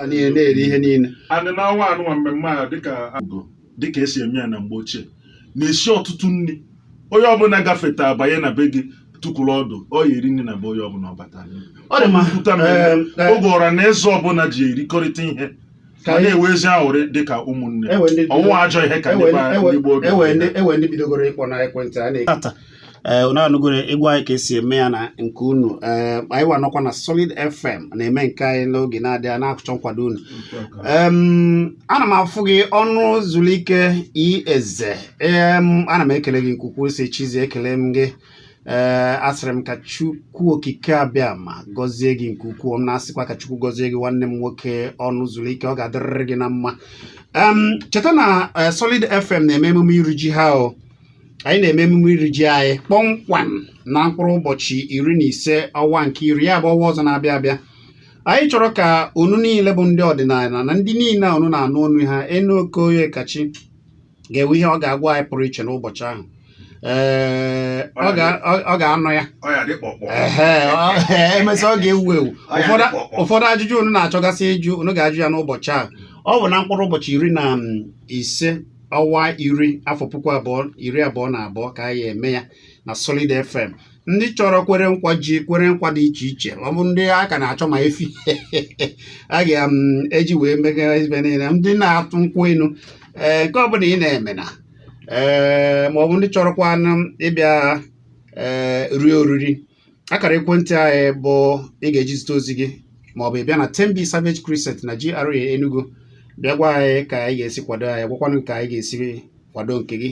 niile na-eri ihe niile anyị na-anwa anwa mmemme a dịka dịka esi eme ya na mgbe ochie na-esi ọtụtụ nri onye ọbụla gafeta abanye na be gị tukwuru ọdụ ọ ya-eri nri na be onye ọbụla ọ batara ọ dị mma Pụta na- Em, em, oge ọra na eze ọbụla ji erikọrịta ihe ka ma anyị na-enwe ezi aṅụrị dị ka ụmụnne enwe ndị ọnwụwa ajọ ihe ka ndị ba- ndị gboo oge enwe ndị enwe ndị bidogoro ịkpọ na ekwentị a na-ekwu tata ee unu anụgoro ịgwa anyị ka esi eme ya na nke unu ee anyị wa nọkwa na solid fm na-eme nke anyị n'oge na-adịghị anya na-achọ nkwado unu Em, ana m afụ gị Ọnụzulike eze em ana m ekele gị nke ukwuu si chizi ekele m gị ee eh, asịrị m ka Chukwu okike abịa ma gọzie gị nke ukwuu m na-asịkwa ka Chukwu gọzie gị nwanne m nwoke Ọnụzulike ọ ga-adịrịrị gị na mma cheta na eh, Solid FM na-eme emume iri ji ha o anyị na-eme emume iri ji anyị kpọmkwem na mkpụrụ ụbọchị iri na ise ọnwa nke iri ya bụ ọnwa ọzọ na-abịa abịa anyị chọrọ ka unu niile bụ ndị ọdịnala na ndị niile a unu na-anụ onu ha enu okoye kachi ga-enwe ihe ọ ga-agwa anyị pụrụ iche n'ụbọchị ahụ ee ọ ga- ọ- ọ ga-anọ ya ọ ya dị kpọkpọ Ehe, ọ- ee, emesịa ọ ga-ewu ewu Ọ ya Ụfọdụ- dị kpọkpọ. ụfọdụ ajụjụ unu na-achọgasị ịjụ unu ga-ajụ ya n'ụbọchị ahụ ọ bụ na mkpụrụ ụbọchị iri na um, ise ọnwa iri afọ puku abụọ iri abụọ na abụọ ka a ya-eme ya na Solid FM ndị chọrọ kwere nkwa ji kwere nkwa dị iche iche ọ bụ ndị a ka na-achọ ma efi a ga-eji um, wee megara ibe niile ndị na-atụ nkwụ enu ee nke ọbụla ị na-eme na ee ma ọ bụ ndị chọrọkwa ịbịa ee rie oriri akara ekwentị anyị bụ ị ga-eji zite ozi gị ma ọ bụ ịbịa na 10B Savage Crescent na GRA Enugu bịa gwa anyị ka ị ga-esi kwado anyị gwakwanụ ka anyị ga-esi kwado nke gị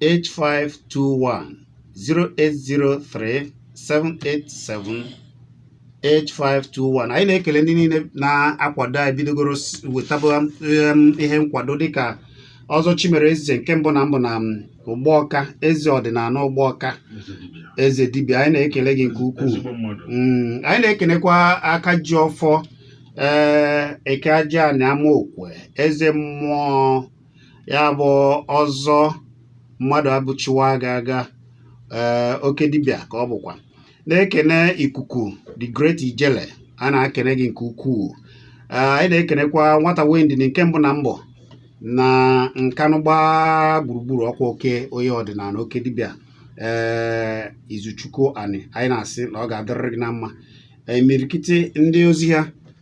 8521 0803 787 8521 anyị na-ekele ndị niile na-akwado anyị bidogoro wetaba um, ihe nkwado dịka ọzọ chimere eze nke mbụ na mbụ na um, ụgbọọka eze ọdịnala ụgbọọka eze dibịa anyị na-ekele gị nke ukwuu mm, anyị na-ekelekwa aka ji ọfọ ee eh, eke aja na amaokwe eze mmụọ ya bụ ọzọ Mmadụabụchi wa aga aga eh, oke dibịa ka ọ bụkwa na-ekene ikuku the great ijele a na-ekene gị nke ukwuu eh, anyị na-ekenekwa nwata wendi nke mbụ na mbụ na nkanụ gbaa gburugburu ọkwa oke onye ọdịnala oke dibịa ee eh, izuchukwu ani anyị na-asị na ọ ga-adịrịrị gị na mma imirikiti ndị ozi ha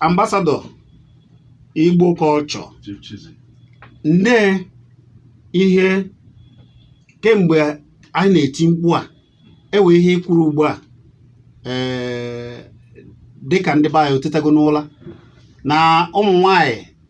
ambassador Igbo culture nne ihe kemgbe anyị na-eti mkpu a ewe ihe i kwuru ugbu a ee eh, dịka ndị be anyị otetago n'ụla na ụmụ nwanyị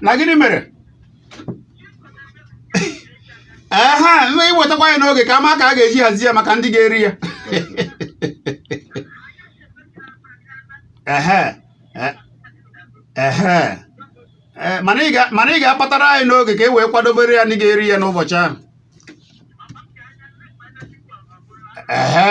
na gịnị mere ehe nna i wetakwa ya n'oge ka a ma ka a ga-eji hazie ya maka ndị ga-eri ya ehe e- ehe e, mana ị ga- mana ị ga-apatara anyị n'oge ka e wee kwadobere ya ndị ga-eri ya n'ụbọchị ahụ ehe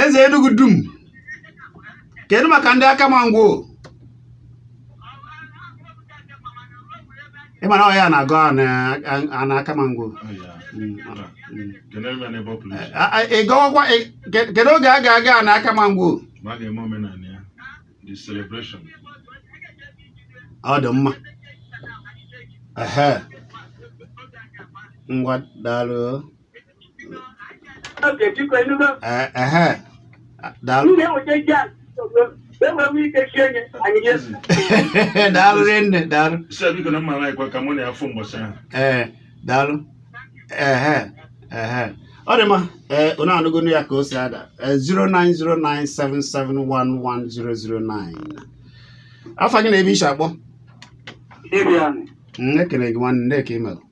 eze Enugu dum kedu maka ndị Akama Ngwo ịma na ọhịa na-agụ a na Akama Ngwo ị gawakwa kedu oge a ga-aga a na Akama Ngwo ọ dị mma ngwa daalụ daalụ nne daalụ ee daalụ ehe ehe ọ dị mma ee eh, unu anụgonu ya ka o si ada 09097711009 eh, afa gị na ebe i shi akpọ ekele gị nwanne ndị ka i melụ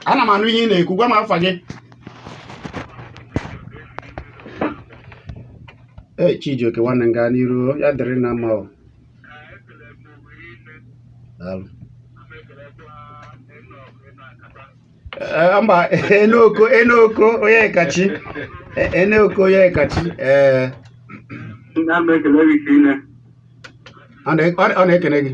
ana m anụ ihe ị na-ekwu gwa m afa gị ee Chijioke nwanne m gaa n'iru ya dịrị na mma o daalụ mba Enoch Enoch Onyekachi Enoch Onyekachi ee ọ na-ekene gị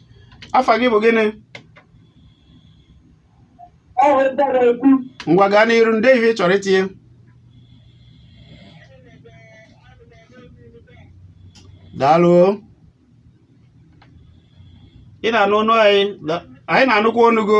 afa gị bụ gịnị ngwa gaa n'iru ndị ihe ị chọrọ itinye daalụ ị na-anụ onu anyị anyị na-anụkwa onu gị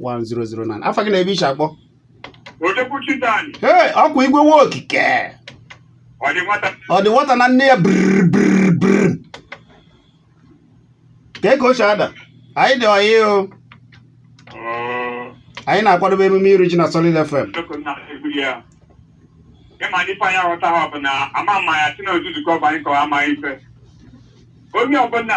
1009 afa gị na ebe i shi akpọ ee ọkwa igwe nwa okike ọ dị nwata na nne ya brbrbrr ka eke ochie ada anyị dị ọyị o anyị na-akwadobe emume iri ji na Solid FM ịma ndị fanya ghọta ha bụ na ama mma ya si na ozuzu ka ọ bụ anyị kọwa amaghị ife onye ọbụla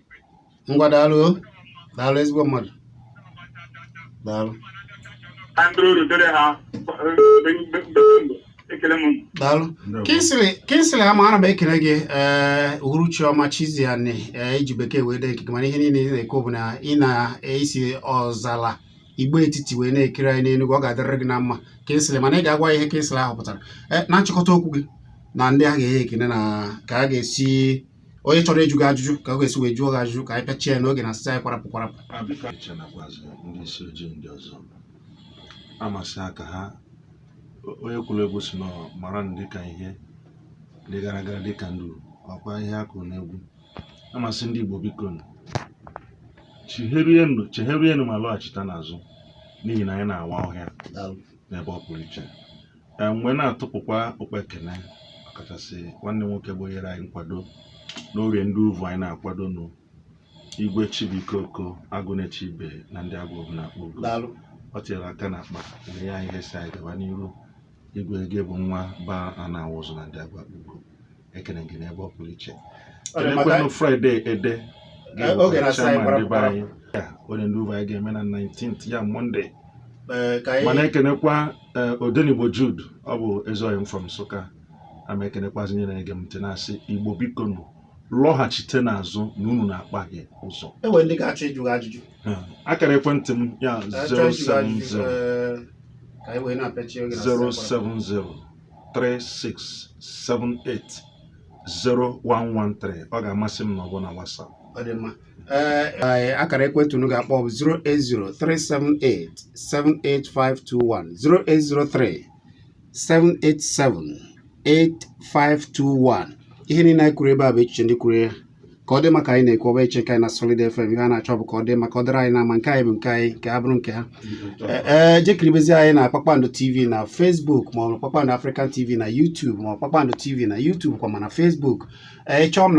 ngwa daalụ daalụ ezigbo mmadụ daalụ daalụ Kingsley ama ana m ekele gị ee eh, uhuruchi ọma Chizzy Ani ee eh, i ji bekee wee dee nke gị mana ihe niile ị na-ekwu bụ na ị na-esi ọzala igbo etiti wee na-ekiri anyị n'enugwu ọ ga-adịrịrị gị na mma Kingsley mana ị ga-agwa ihe Kingsley ahụ pụtara eh, na nchịkọta okwu gị na ndị a ga-enye ekene na ka a ga-esi onye chọrọ ịjụ gị ajụjụ ka ọ ga-esi wee jụọ gị ajụjụ ka anyị pịachie ya n'oge na asịsa anyị kwarapụ kwarapụ ndị isi ojii ndị ọzọ amasị aka ha onye kụrụ egwu sị na mara ndị ka ihe dị garagara dị ka nduru ọkwa ihe a kụrụ n'egwu a m asị ndị Igbo biko chegherienụ ma lọghachita n'azụ n'ihi na anyị na-awa ọhịa n'ebe ọ pụrụ iche m wee na-atụpụkwa okpe ekene ọkachasị nwanne nwoke bụ nyere anyị nkwado n'orie ndị uvu anyị na-akwado nụ igwe Chibuikoko Agụnechibe na ndị agụ Obuno Akpugo o tinyere aka n'akpa nye anyị ihe sị anyị gaba n'iru igwe gị bụ nwa ba a na-awụzụ na ndị agụ Akpugo ekene gị n'ebe ọ pụrụ iche elekwenụ Friday Ede oge na anyị orie ndị uvu anyị ga-eme na 19th ya Monday m na-ekenekwa odenigbo Jude Ogbu Ezugwu from nsụka ama ekenekwazi onye na-ege m ntị na-asị igbo biko nụ lọghachite n'azụ na unu na-akpahie ụzọ e nwere ndị ga-achọ ịjụ ajụjụ akara ekwentị m ya 070 070 36780113 ọ ga-amasị m na ọ bụ na WhatsApp ọ dị mma ee akara ekwentị unu ga-akpọ bụ 08037878521 08037878521 ihe niile anyị kwuru ebe a bụ echiche ndị kwuru ya ka ọ dị mma ka anyị na-ekwu ọ bụghị echiche nke anyị na Solid FM ihe a na-achọ bụ ka ọ dị mma ka ọ dịrị anyị na mma nke anyị bụ nke anyị nke ha bụrụ nke ha ee jekiribezi anyị na Kpakpando TV na Facebook ma ọ bụ Kpakpando African TV na YouTube ma ọ Kpakpando TV na YouTube kwa ma na Facebook ị chọọ m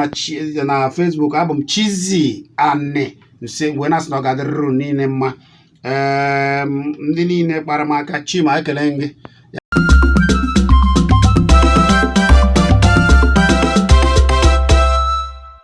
na Facebook abụ m Chizzy Ani nse wee na-asị na ọ ga-adịrịrị unu niile mma ndị niile kpara m aka chima ekele gị